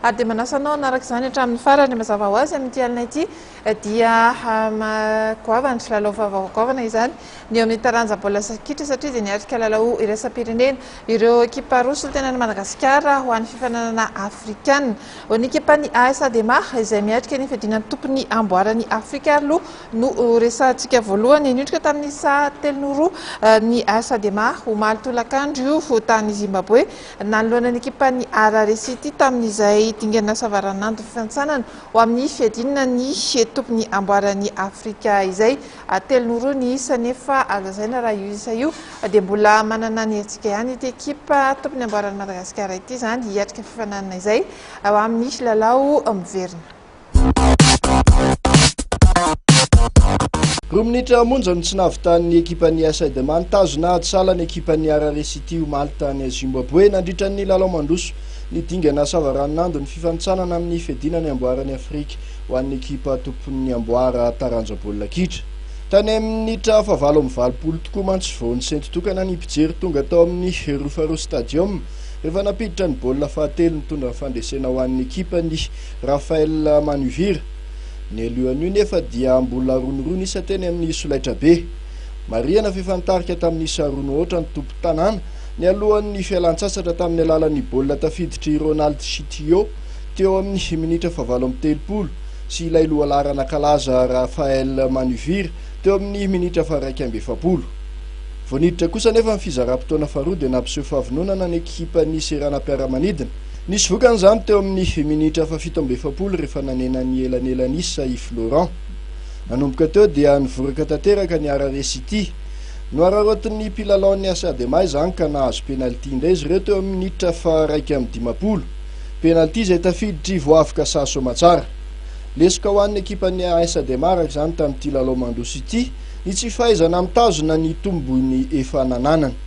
Ary dia manasa anao hanaraka izany hatramin'ny farany. Mazava ho azy, amin'ity alina ity dia goavana, lalao vaovao goavana izany ny eo amin'ny taranja baolina kitra, satria dia niatrika lalao iraisam-pirenena ireo ekipa roa solontenan'i Madagasikara ho an'ny fifaninanana afrikana. Ho ny ekipan'ny AS Adema izay miatrika ny fiadiana ny tompon'ny amboaran'i Afrika aloha no resahantsika voalohany. Niondrika tamin'ny saha telo no roa ny AS Adema, omaly tolakandro io, tany Zimbaboe. Nanoloana ny ekipan'ny Harare City tamin'izay dingana savaranandon'ny fihantsanana ho amin'ny fiadiana ny tompony amboaran'i Afrika izay. Telo no roa ny isa nefa azo lazaina raha io isa io dia mbola manana ny hetsika ihany ity ekipa tompony amboaran'i Madagasikara ity izany hiatrika fifaninanana izay ho amin'ny lalao miverina. Roa minitra monja no tsy nahavitan'ny ekipan'ny AS Edema nitazona ady sahala ny ekipan'ny Harare City omaly tany Zimbaboe nandritra ny lalao mandroso ny dingana savaranonando ny fifanintsanana amin'ny fiadiana ny amboaran'i Afrika ho an'ny ekipa tompon'ny amboara taranja baolina kitra. Tany amin'ny minitra fahavalo amby valopolo tokoa mantsy vao nisento tokana ny mpijery tonga tao amin'ny Rufarou Stadium rehefa nampiditra ny baolina fahatelo nitondra ny fandresena ho an'ny ekipan'ny Raphaël Manuvira. Nialohan'io nefa dia mbola ronirony isa teny amin'ny solaitrabe. Marihana fa efa nitarika tamin'ny isa roa mihoatra ny tompon-tanàna nialohan'ny fialan-tsasatra tamin'ny alalan'ny baolina tafiditr'i Ronald Chitio teo amin'ny minitra fahavalo amby telopolo sy ilay lohalaharana kalaza Raphaël Manuvira teo amin'ny minitra faharaika amby efapolo. Vao niditra kosa anefa ny fizaram-potoana faharoa dia nampiseho fahavononana ny ekipan'ny seranam-piaramanidina Nisy vokany izany teo amin'ny minitra fahafito amby efapolo rehefa nanena ny elanelan'isa i Florent. Nanomboka teo dia nivoraka tanteraka ny Harare City. Nohararaotin'ny mpilalaon'ny AC Adema izany ka nahazo penalty indray izy ireo teo amin'ny minitra faha iraika amby dimampolo. Penalty izay tafiditr'i Voavika Saha Soamatsara. Lesoka ho an'ny ekipan'ny AS Adema araka izany tamin'ity lalao mandroso ity ny tsy fahaizana mitazona ny tombony efa nananany.